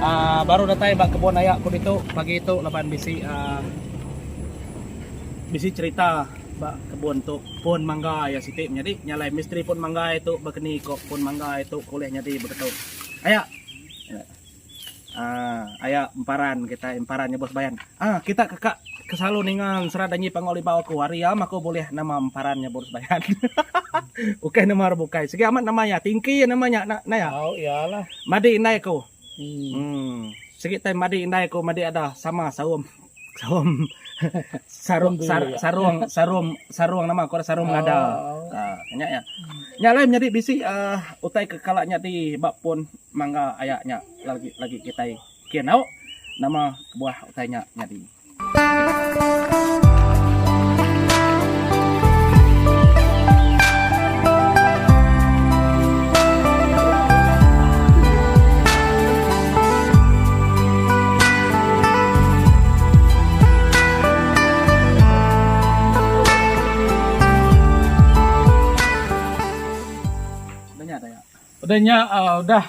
Aaa baru datai ba kebun aya ku ditu pagi tu laban bisi aaa bisi cerita ba kebun tu pun mangga iya siti menyadi nya alai misteri pun mangga iya tu bakani ko pun mangga iya tu ko ulih nyadi begitu. Aya. Haa aya emparan kitai emparan nyebut sebayan haa kita keka keselalu ninga sera danyi panggau libau aku hari am aku bulih nama emparan nyebut sebayan hahaha ukai nama orang bukai sigi amat nama iya tingki iya nama nya na iya au iya lah madi indai aku um sigi tai madi indai aku madi ada sama saum. Sarung sarung sarung sarung sarung nama aku sarung ngada. Oh. Ha, nya ya. Nya lain jadi bisi uh, utai ke kala nya di ba pun mangga aya nya lagi lagi kita kenau nama buah utai nya jadi. Udah nya udah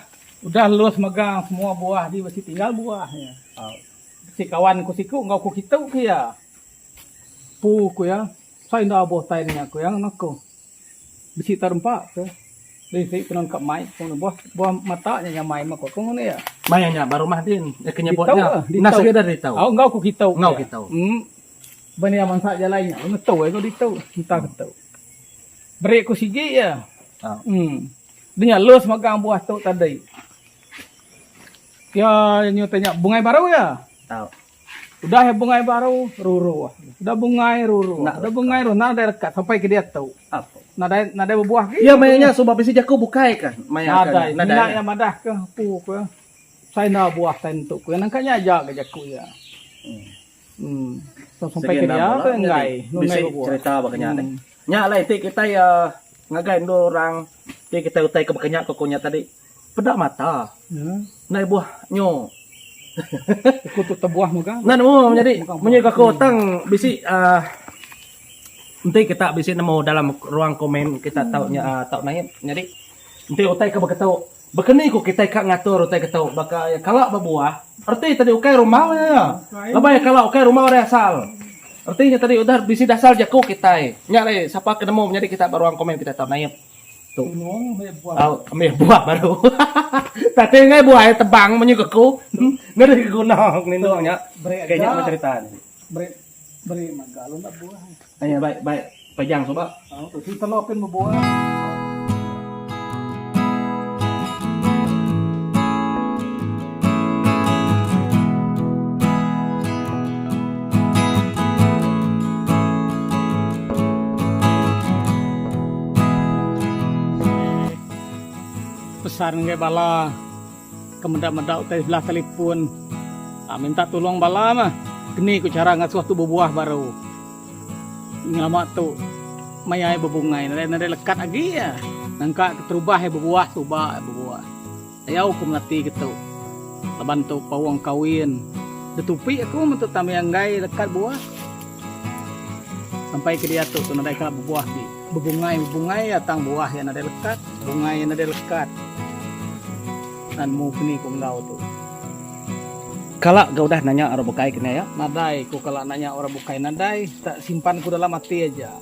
udah lus megang semua buah ji bisi tinggal buah nya. Bisi kawan ku siku enggau ku kitu ke iya. Pu ku iya, sai enda abuh tai nya ku iya ngena ku. Bisi ta rempa ke. Deh isi tenun ka mai ku ngan buah buah mata nya nya mai meko ku ngan iya. Maya nya ba rumah din nya ke nyebut nya. Nas agi da ditu. Au enggau ku kitu. Enggau kitu. Em ban iya mansa jalai nya ngetu ai ku ditu entah ke tu. Beri ku sigi iya. Em de nya lus megang buah tu tadi. Pia nyutai nya bungai baru iya. Tau. Udah iya bungai baru ruru. Udah bungai ruru. Udah bungai ruru. Nadai rekat sampai ke dia tu. Nadai nadai bebuah agi. Iya maya nya suba bisi jaku bukai ka maya ka. Nadai. Nadai. Iya madah ka empu ka sai enda buah tai nentu ka. Nangka nya aja ga jaku iya. Em. Tang sampai ke dia tu enggai. Bisi cerita baka nya deh. Nya alai ti kitai iya ngagai endur orang ti kitai utai ka baka nya ku aku nya tadi. Peda mata. Nai buah nyo. Uku tu tebuah mega. Nah nemu menyadi munyi gaku tang bisi uh, enti kita bisi nemu dalam ruang komen kita tau nya uh, tau naip nyadi enti utai ke beketu Bekeni ku kita ka ngatur utai ketu baka ya kala bebuah erti tadi ukai rumau nya ya lebai kala ukai rumau dah asal erti nya tadi udah bisi dasal jaku kitai nya alai sapa ke nemu menyadi kita ba ruang komen kita tau naip Amih buah baru. Tadi ngai buah iya tebang munyi ke aku. Ngeri ke guna ngelindung nya. Ke nya meh cerita nya. Beri mega lu enda buah. Aye bai bai pejang suba. Usi telo pin bebuah. Pesan enggai bala ke meda-meda utai sebelah telefon um minta tulung bala mah keni ku chara ngasuh tu bebuah baru. Ngelama tu maya iya bebungai nadai nadai lekat agi iya nangka keterubah iya bebuah suba iya bebuah. Tayau aku melati getu. Laban tu paung kawin detupi aku mentu tami anggai lekat buah. Sampai ke diatu tu nadai kala bebuah di. Bebungai bebungai ya tang buah ya nadai lekat, bungai ya nadai lekat. Nan mu keni ku enggau tu. Kala ga udah nanya orang bukai kena ya. Nadai ku kala nanya orang bukai nadai tak simpan ku dalam ati aja.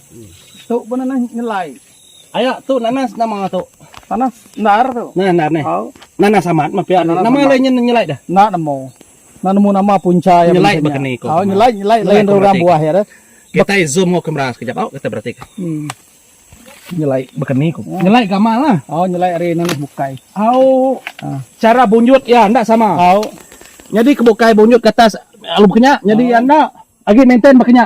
Tu pun nanas nyelai. Aya tu nanas nama tu. Nanas endar tu. Nanas endar ni. Au. Nanas amat mah pia. Nama alai nya nyelai dah. Enda nemu. Enda nemu nama punca nya. Nyelai baka ni ko. Au nyelai nyelai lain orang buah iya dah. Kitai zoom enggau kamera sekejap au kita berati ka. Hmm. Nyelai baka ni ko. Nyelai gamal lah. Au nyelai ari nanas bukai. Au. Ha. Cara bunjut iya enda sama. Au. Nyadi ke bukai bunjut ke atas lalu baka nya nyadi iya enda. Agi maintain baka nya.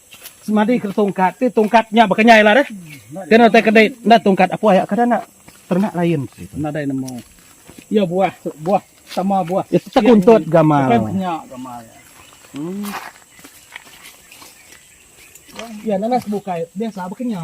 Semadi ke tungkat ti tungkat nya bekenyai lah deh. Kena utai ke dei enda tungkat apoy yak kada nak ternak lain. Nadai nemu iya buah buah sama buah. Iya tetap kuntut gamal. Bukan kenya gamal iya. Hmm. Iya nanas bukai biasa bekenya.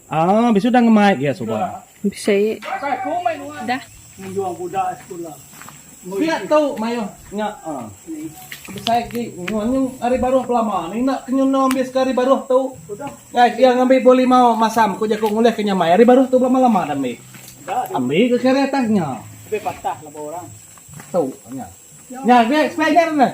Aaa bisu dah ngemai gia suba. Bisi dah. Ngenjong budak sekula. Pia tu maioh nya ah. Besai agi nuan nya ari baroh belama ni enda ke nyunoh ambis ke ari baroh tu. Guys iya ngambi buah limau masam ku jaku ngulih ke nyamai ari baroh tu belama lama dah ambi. Ambi ke ke ari atas nya. Lebih patah laban orang. Tu nya. Nya agi spare nya deh.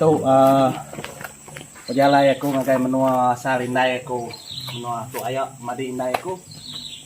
Tu aaa pejalai aku ngagai menua asal indai aku menua tu aya madi indai aku.